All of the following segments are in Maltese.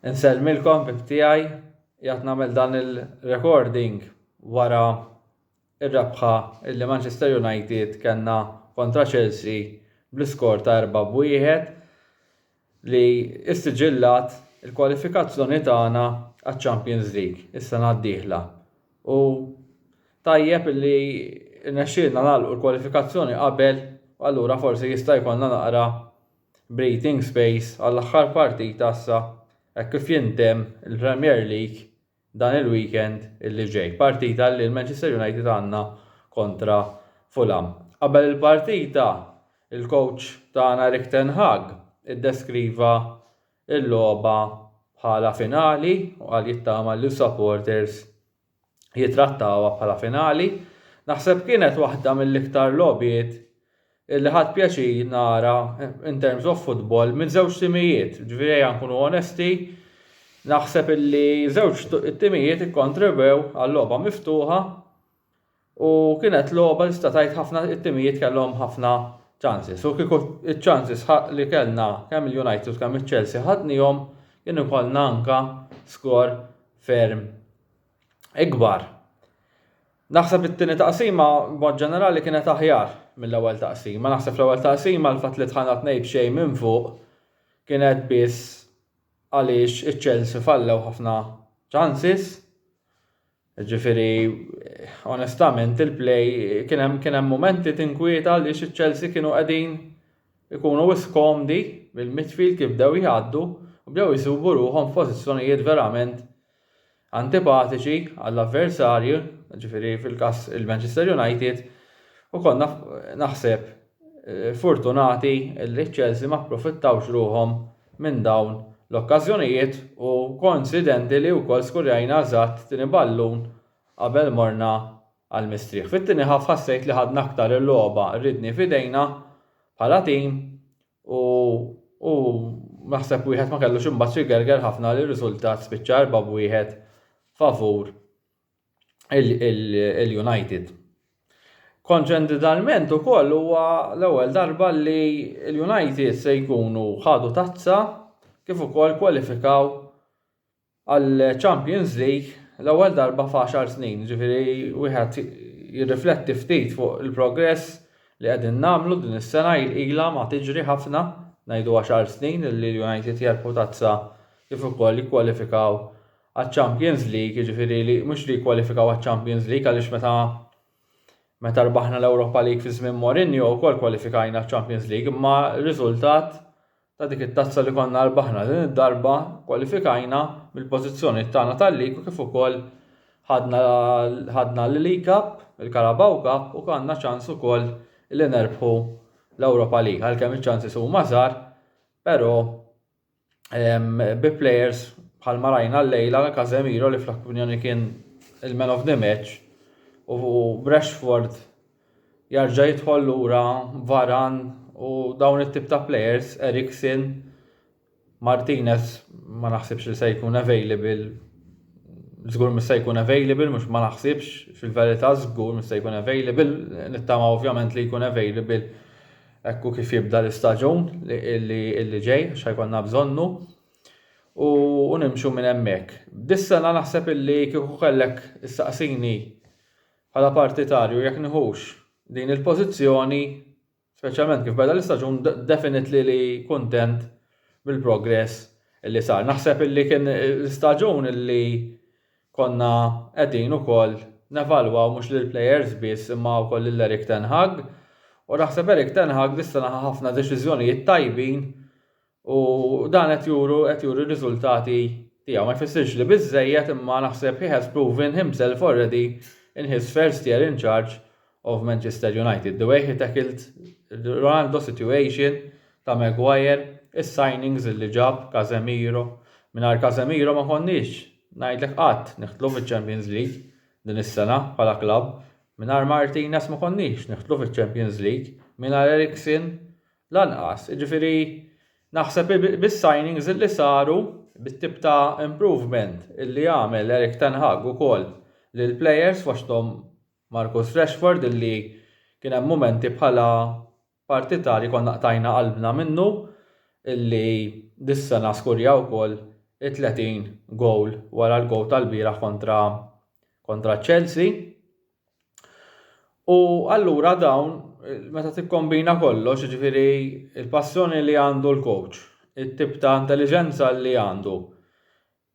Insellmilkom bib tiegħi jgħat nagħmel dan il-recording wara ir-rebħa illi Manchester United kellna kontra Chelsea bl-iskor ta' 4 b'wieħed li ssiġillat il-kwalifikazzjoni tagħna għaċ-Champions League is-sena d-dieħla u tajjeb li rnexxielna nagħlqu l-kwalifikazzjoni qabel u allura forsi jista' jkollna naqra breathing space għall-aħħar partita issa hekk kif jintemm il-Premier League dan il-weekend li ġej. Partita li l-Manchester United għandna kontra Fulham. Qabel il-partita, il-kowċ tagħna Erik ten Hag iddeskriva l-logħba bħala finali u qal jittama li s-supporters jittrattawha bħala finali. Naħseb kienet waħda mill-iktar logħbiet li ħadt pjaċir nara in terms of football minn żewġ timijiet, ġifieri ejja nkunu onesti, naħseb illi żewġ timijiet ikkontrebew għal logħba miftuħa u kienet logħba tista' tgħid ħafna it-timijiet kellhom ħafna chances u kieku ċ-chances li kellna kemm il-United u kemm iċ-Chelsea ħadnihom kien ikollna anka skor ferm ikbar. Naħseb it-tieni taqsima b'mod ġenerali kienet aħjar mill-ewwel taqsima. Naħseb fl-ewwel taqsima l-fatt li tħanna tnejn b'xejn minn fuq kienet biss għaliex iċ-Chelsea fallew ħafna ċansis. Ġifieri onestament il-play kien hemm kien hemm mumenti tinkwieta għaliex iċ-Chelsea kienu qegħdin ikunu wis komdi bil-midfield kif bdew jgħaddu u bdew jsubu ruħhom f'pożizzjonijiet verament antipatiċi għall-avversarji, jiġifieri fil-każ il-Manchester United, u konna, naħseb, fortunati li ċ-Chelsea ma pprofittawx ruħhom minn dawn l-okkażjonijiet u koinċidenti li wkoll skurjajna eżatt tieni ballun qabel morna għall-mistrieħ. Fit-tieni half ħassejt li ħadna aktar il-logħba, rridni f'idejna bħala tim U u naħseb wieħed ma kellux imbagħad xi gerger ħafna li riżultat spiċċa erba' b'wieħed favur il-United. Konċendidalment ukoll huwa l-ewwel darba li l-United se jkunu ħadu tazza kif ukoll kwalifikaw għall-Champions League l-ewwel darba f'għaxar snin, jiġifieri wieħed jirrifletti ftit fuq il-progress li qegħdin nagħmlu din is-sena ilha ma tiġri ħafna, ngħidu għaxar snin li l-United jerbħu tazza kif ukoll jikkwalifikaw għaċ-Champions League, jiġifieri li mhux li jikkwalifikaw għaċ-Champions League għaliex meta meta rbaħna l-Europa League fi żmien Mourinho wkoll kwalifikajna għaċ-Champions League imma r-riżultat ta' dik it-tazza li konna rbaħna din id-darba kwalifikajna mill-pożizzjoni tagħna tal-Lig u kif ukoll ħadna l-League Cup, il-Carabao Cup u għandna ċans ukoll li nerbħu l-Europa League għalkemm iċ-ċansis huma żgħar però bi players bħalma rajna llejla Casemiro li fl-opinjoni kien il-man of the match u Rashford Jarġa' jidħol lura Varan u dawn it-tip ta' players, Eriksen, Martinez ma naħsibx li se jkun available Zgur mis se jkun available, mux ma naħsibx, fil-verita zgur mis se jkun available, nittama ovvjament li jkun available ekku kif jibda l-istaġun li ġej, xajkonna bżonnu u nimxu minn hemmhekk. Dis-sena naħseb illi kieku kellek issaqsini Bħala partitarju, jekk nieħux din il-pożizzjoni, speċjalment kif beda l-istaġun, definitely li kuntent bil-progress li sar. Naħseb li kien l-istaġun li konna qegħdin ukoll nevalwaw mhux lill-plejers biss imma wkoll lil Erik ten Hag u naħseb Erik ten Hag dis-sena ħa ħafna deċiżjonijiet tajbin U dan qed juru qed juri r-riżultati tiegħu. Ma jfissirx li biżżejjed imma naħseb he has proven himself already in his first year in charge of Manchester United. The way he tackled Ronaldo situation ta' Maguire, is-signings li ġab, Casemiro. Mingħajr Casemiro ma konniex, ngħidlek qatt, nidħlu fiċ-Champions League din is-sena bħala klabb. Mingħajr Martinez ma konniex nidħlu fiċ-Champions League. Mingħajr Eriksen Lanqas, jiġifieri naħseb bis-signings li saru, bit-tip ta' improvement li għamel Erik ten Hag ukoll lill-players fosthom Marcus Rashford illi kien hemm mumenti bħala partitar li konna qtajna qalbna minnu illi dis-sena skurja wkoll it-30 goal wara l-goal tal-bieraħ kontra Chelsea. U allura dawn, meta tikkombina kollox, jiġifieri l-passjoni li għandu l-coach, it-tip ta' intelliġenza li għandu,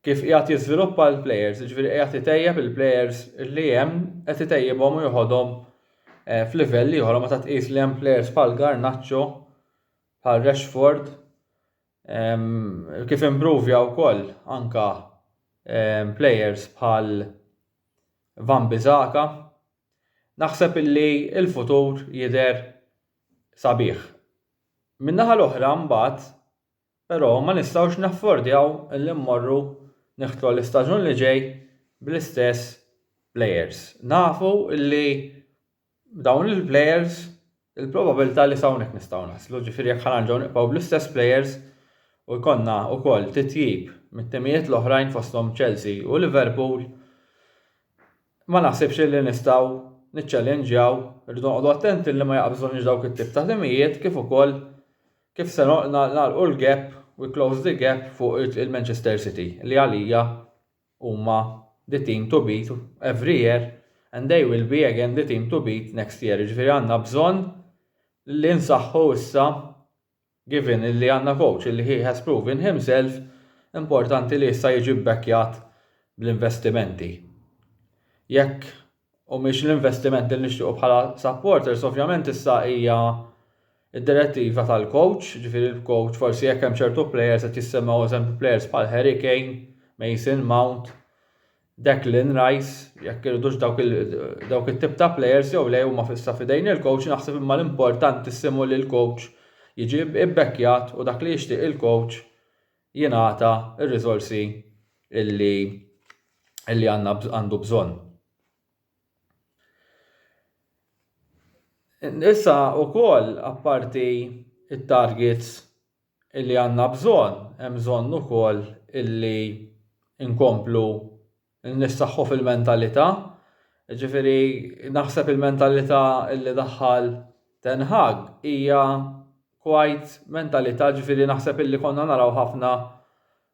kif qiegħed jiżviluppa l-plejers, jiġifieri qiegħed itejjeb il-plejers li hemm, qed itejjibhom u joħodhom eh, f'livell ieħor meta tqis li hemm plejers bħal Garnacho, bħal Rashford, Kif impruvja wkoll anke plejers bħal Van Bissaka, naħseb li l-futur jidher sabiħ. Min-naħa l-oħra mbagħad però ma nistgħux naffordjaw li mmorru niħtlu l-istaġun li ġej bl-istess plejers. Nafu li b'dawn il-plejers il-probabilità li s'hawnhekk nistgħu naslu, ġifieri jekk ħanerġgħu nibqgħu bl-istess plejers u jkollna wkoll titjib mit-timijiet l-oħrajn fosthom Chelsea u Liverpool, ma naħsibx illi nistgħu niċċellinġjaw, irridu noqogħdu attenti li ma jaqbżunniex dawk it-tip ta' timijiet kif ukoll kif se nagħlqu l-gap, we close the gap fuq il-Manchester City li għalija, Huma the team to beat every year and they will be again the team to beat next year. Jiġifieri għandna bżonn li nsaħħu issa given illi għandna coach illi he has proven himself, importanti li issa jiġi bbackjat bl-investimenti. Jekk u mhix l-investiment li nixtiequ bħala supporters, ovvjament issa hija d-direttiva tal-coach, ġifieri l-coach forsi jekk hemm ċertu plejers qed jissemmew eżempju plejers bħal Harry Kane, Mason Mount, Declan Rice, jekk iridux dawk it-tip ta' plejers jew le huma issa f'idejn il-coach, naħseb imma l-importantissimu li l-coach jiġi bbekkjat u dak li jixtieq il-coach jingħata r-riżorsi illi illi għandna għandu bżonn. Issa wkoll apparti it-targets illi għandna bżonn, hemm bżonn ukoll illi nkomplu Nissaħħu fil-mentalità, jiġifieri naħseb il-mentalità li daħħal Ten Hag hija quite mentalità ġifieri naħseb illi konna naraw ħafna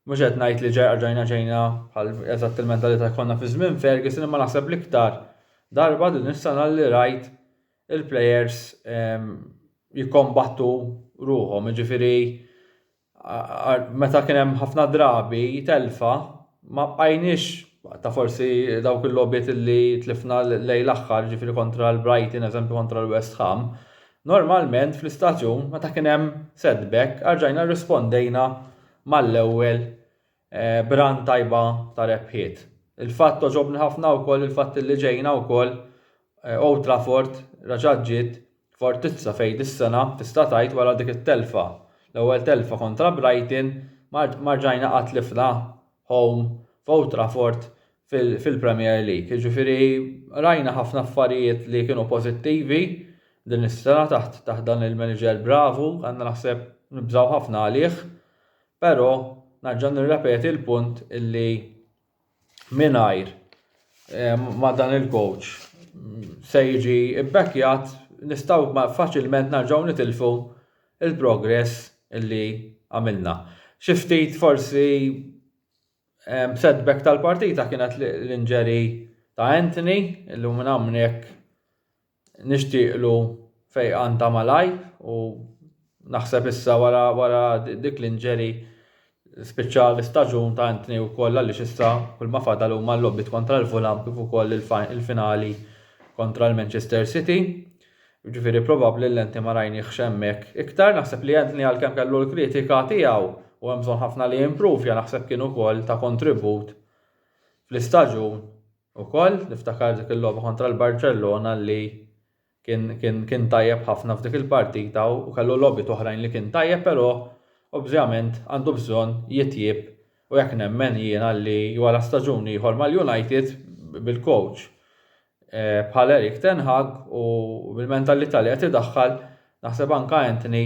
mhux qed ngħid li rġajna ġejna bħal eżatt il-mentalità li konna fi żmien Ferguson imma naħseb l-iktar darba din is-sena li rajt il-plejers jikkombattu ruħhom, jiġifieri meta kien hemm ħafna drabi telfa, ma bqajniex ta' forsi dawk il-logħbiet li tlifna lejn l-aħħar, ġifieri kontra l-Brighton, eżempju kontra l-West Ham, normalment fl-istaġun meta kien hemm setback, erġajna rrispondejna mal-ewwel Brand tajba ta' rebħiet. Il-fatt għoġobni ħafna wkoll il-fatt illi ġejna wkoll Old Trafford reġgħet ġiet fortizza fejn dis-sena tista' tgħid wara dik it-telfa, l-ewwel telfa kontra Brighton ma ma rġajna qatt tlifna home f'Old Trafford fil-Premier League. Jiġifieri rajna ħafna affarijiet li kienu pożittivi din is-sena taħt taħt dan il-manager bravu, għandna naħseb nibżgħu ħafna għalih. Però nerġa' nirrepeti l-punt illi mingħajr eh, ma' dan il-coach se jiġi bbackjat nistgħu faċilment nerġgħu nitilfu il-progress illi għamilna. Xi ftit forsi setback tal-partita kienet l-inġeri ta' Anthony, illum minn hawnhekk Nixtieqlu fejqan ta' malajr u naħseb issa wara wara dik l-inġeri spiċċa l-istaġun ta' Anthony wkoll għaliex issa kull ma fadal huma l-logħbiet kontra l-Fulham kif ukoll il-finali kontra l-Manchester City. Ġifieri probabbli li Anthony ma rajniehx hemmhekk iktar. Naħseb li Anthony għalkemm kellu l-kritika tiegħu u hemm bżonn ħafna li jimprovja naħseb kien ukoll ta' kontribut fl-istaġun Ukoll niftakar dik il-logħba kontra l-Barċellona li kien, kien, kien tajjeb ħafna f'dik il-partita u kellu logħbiet oħrajn li kien tajjeb però obvjament għandu bżonn jitjieb u hekk nemmen jiena li wara staġun ieħor mal-United bil-coach eh, bħal Erik Ten Hag u bil-mentalità li qed idaħħal naħseb anke Antony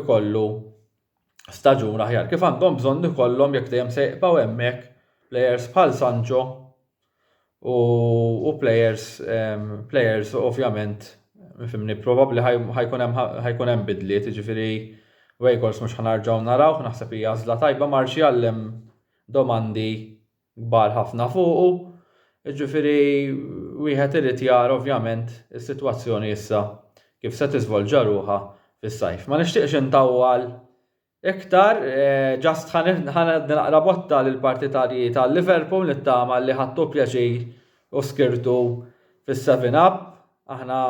ikollu staġun aħjar kif għandhom bżonn ikollhom jekk dejjem se jibqgħu hemmhekk plejers bħal Sancho u, u plejers um, plejers ovvjament fimni probabbli ħajkun hemm bidliet, jiġifieri Wejkors mhux ħanarġgħu narawh, naħseb hija għażla tajba Marxjallem domandi kbar ħafna fuqu, jiġifieri wieħed irid jara ovvjament is-sitwazzjoni issa kif se tiżvolġa ruħha fis-sajf. Ma nixtieqx intawwal iktar, just ħa ngħaddi naqra botta lill-partitarji ta' Liverpool nittama li ħadtu pjaċir u skirtu fis-seven up, aħna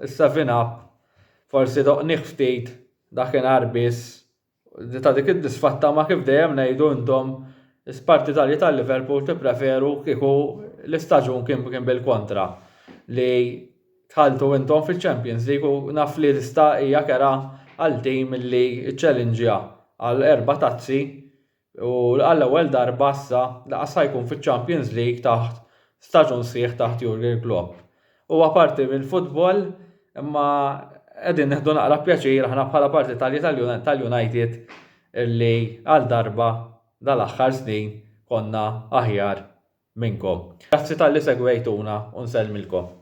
s-seven up forsi doqnieh ftit dakinhar biss Di ta' dik id-disfatta ma' kif dejjem ngħidu intom spartitarji ta' Liverpool tippreferu kieku l-istaġun kien kien bil-kontra li dħaltu intom fiċ-Champions League u naf li lista hija kerha għal tim li ċċellinġja għal erba' tazzi u għall-ewwel darba issa lanqas ħa jkun fiċ-Champions League taħt staġun sħiħ taħt Jurgen Klopp. Huwa parti mill-futbol imma qegħdin nieħdu naqra pjaċir aħna bħala parti tal-United li għal darba dal-aħħar snin konna aħjar minnkom. Grazzi talli segwejtuna u nsellmilkom.